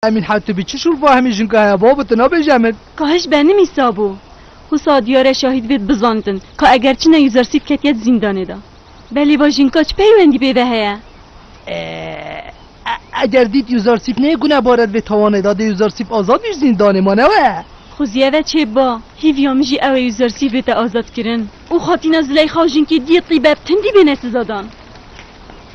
Emîn he tu bi çi şûr vahimî jinka heye babo tu nabêje min. Ka hiş benimî sabo. Husa diyare şahîd vêd bizanibin ka eger çi ne usersîd ketiye di zîndanê de. Belê va jinka çi peywendî pê ve heye? Eger dît usersîd nê gune barer vê tawanê de dê usersîd azad bî ji zîndanê ma ne we. Xwe zî eve çêb ba. Hîvîya min jî ew e usersîd bête azadkirin û xatîna Zileyxa û jinkê diyê tîbeb tindî bêne sizadan.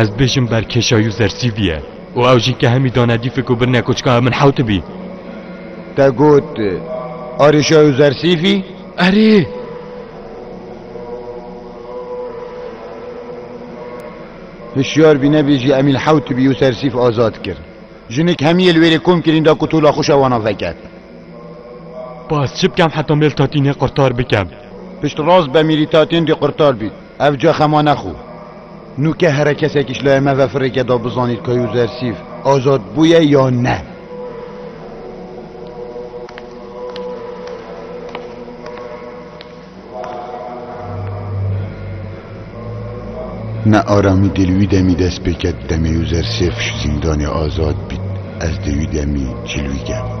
Ez dibêjim ber kêşayû zersîvî ye û ew jî ke hemî dane dî fik û birine ku çika ew min hew tibî. Te got arêşayû zersîvî? Erê! Hişyar bî nebêjî Emîl hew tibî û sersîv azad kir. Jinik hemî yê li wêrê kom kirîn da ku tola xwe şewana veket. Bas çi bikem heta mêl tatînê qurtar bikem? Pişt rast be mîrî tatîndî qurtar bî. Ev ca xema nexo. Nûke here kesekî ji laya me ve firêke da bizanît ka Yûzersîf azad bûye ya ne. Ne aramî dê li wî demî dest pê ket demê Yûzersîf ji zîndanê azad bît ez dê wî demî cîlwî kevim.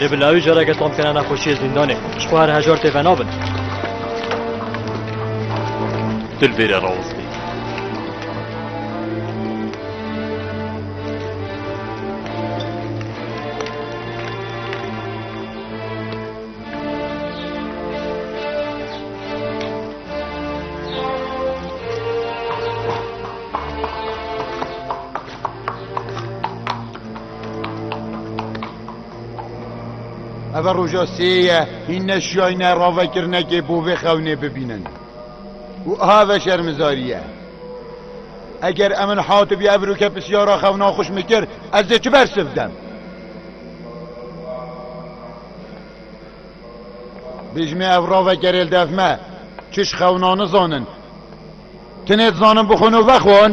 Lê bi lawî careke tom kena nexweşiyê zîndanê. Ji xwe her hejar tê venabin. Dil bêre rawestî. Eve roja sêye hîn neşiyayne ravekirnekê bo vê xewnê bibînin. û aha ve şermizariye. Eger em min hatibî ev rûke pisyara xewna xwe ji min kir ez dê çi bersiv dem? Bijmê ev ravekerêl dev me çi ji xewna nizanin. Tinê dizanin bixwin û vexwin.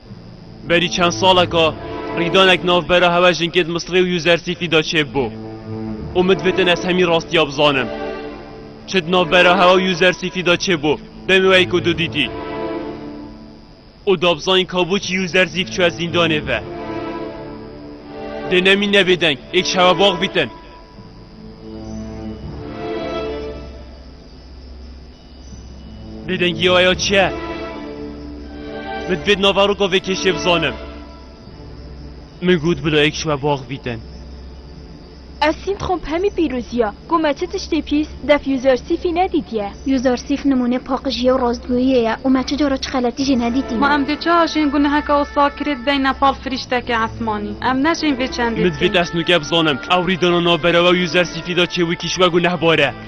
Berî çend saleka rîdanek navbera hewa jinkê di Misrê û Yuzersîfî de çêb bû û min divitin ez hemî rastiya bizanim. Çi di navbera hewa û Yuzersîfî de çêbû demê wê ku tu dîtî û dabizanîn ka bû çi Yuzersîf çûye zîndanê ve. Dê nemîn ne bêdeng, êk şewe bax bîtin. Bêdengî ya ya çi ye? Min divêt nava roka vê kêşê bizanim. Min got bila yek ji we bax bîtin. Ev sîndxomp hemî pîrozî ya. Ku me çi tiştê pîs, def user sîfî nedîtiye. User sîf nimûnê paqijî ye û rastgoyiyê ye û me çi cara çi xeletî jî nedîtîne. Ma em dê çi ajên guneheke Osakirê dibêjin ne pal firîşteke esmanî? Em nejên vê çendê Min divêt dikin. ez nûke bizanim. Ew rî dana navbera we û user sîfî da çê wekî ji we gunehbar e.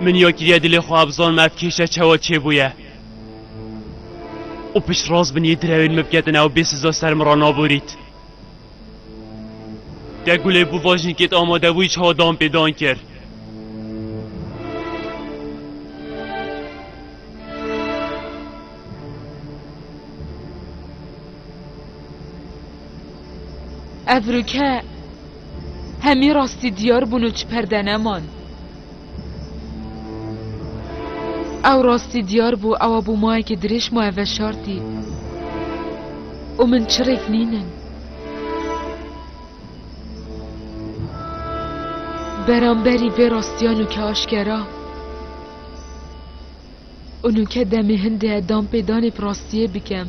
Min ya kiriye dilê xwe abzan me ev kêşe çawa çêbûye. Û piştrast binî direwên min biketin ew bê siza ser min re naborît. Te gulê bû va jinkê te amade bûyî çawa dan pê dan kir. Ev rûke Hemî rastî diyar bûn û çi perde neman. Ew rastî diyar bû, ewa bû mayekî dirêj maye veşartî û min çirêk nînin. Beramberî vê rastiyan û ki aşkera. Û nûke demê hindê e danpêdanê bi rastiyê bikim.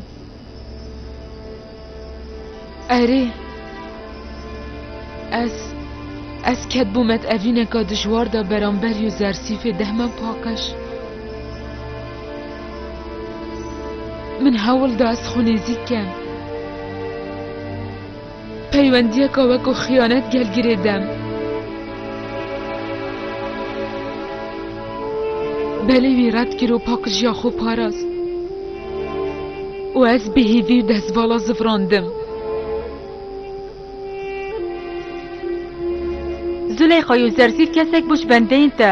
Erê, ez, ez ketbû me di evîneka dijwar de beramber yû zersîfê dehme paqij. Min hewl da ez xwe nêzîk kem. Peywendiyeka weko xiyanet gel girê dem. Belê wî red kir û pakijiya xwe parast. Û ez bi hêvî û dezvala zivrandim. Züleyxa yo zerzît kesek bû ji bendeyên te.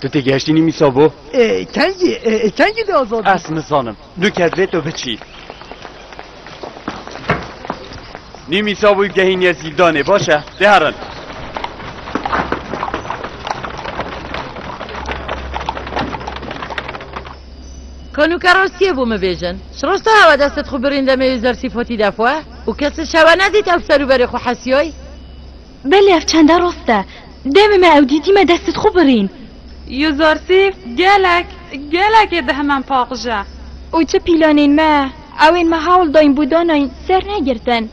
Tu tê gehiştî nîmî sabo? E, kengî, e, e, kengî dê azad bî? Ez nizanim. Du kes lê tu biçî. Nîmî sabo gehîniye zîndanê, baş e? Dê herin. Kanuka rastiye bû min bêjin. Ji rasta hewa destet xwe birîn demê û zersî fotî defwe û kes li şewe nedît ew ser û berê xwe hesiyoy. Belê ev çenda rost e. Demê me ew dîtî me destê xwe birîn. Yo Zarsîf gelek gelekê di hemen paqij e. Û çi pîlanên me ew ên me hewl dayîn bû danayîn ser negirtin.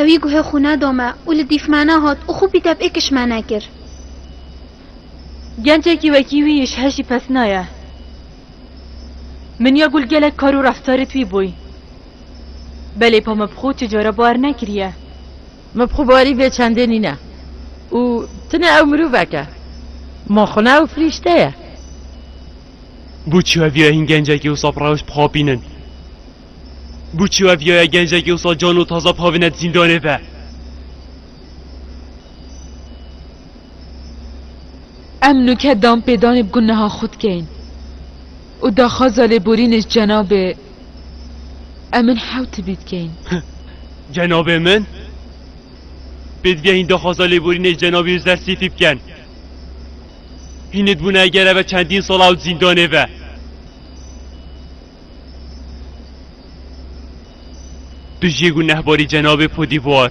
Ew î guhê xwe neda me û li dîf me nehat û xwe pî te pêkiş me nekir. Gencekî wekî wî ji hev jî pez naye. Min ya gul gelek kar û reftarê twî bûy. Belê pa me bi xwe tu cara bar nekiriye. Me bi xwe barî vê çendê nîne û tune ew mirovek e. Ma xwe ne ew firîşte ye. Bo çi hev ya hîn gencekî wisa bi rewş bixapînin? Bo çi hev ya ye gencekî wisa can û taze bixavine di zîndanê ve? Em nûke danpêdanê bi guneha xwe dikeyin û daxwaza lêborînê ji cenabê Em ên hew tibî dikeyin. Cenabê min? Pê digehîn daxwaza lêborînê ji cenabê Uzer Sêfî bikin. Hîn dibûne eger eve çendîn sal ew di zîndanê ve. Tu jê gunehbarî cenabê Podîvar.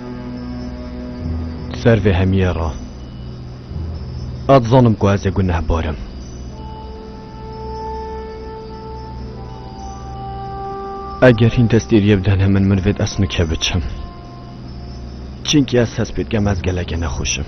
Ser vê hemiyê re ez dizanim ku ez ê gunehbar im. Eger hîn destêriyê bidene min min vêt ez nike biçim. Çimkî ez hespê dikim ez gelekê nexweş im.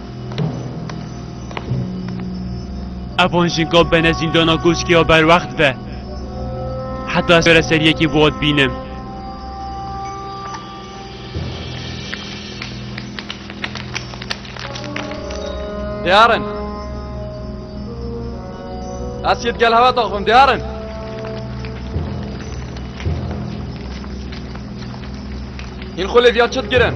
Evan jinka bene zîndana goşkê ya berwext ve. Heta ez were ser yekê vat bînim. Dêyarin. Ez yê gel hewa daxivim dêyarin. Hîn xulê viya çi digirin?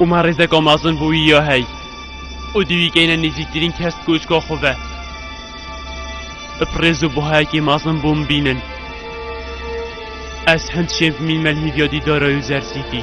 û me rêzeka mezin bo wî ya hey û dê wî keyne nêzîktirîn kes koçka xwe ve. Bi pirêz û buhayekî mezin bo min bînin. Ez hind şên bi mînmel hêviya dîdara û zersîtî.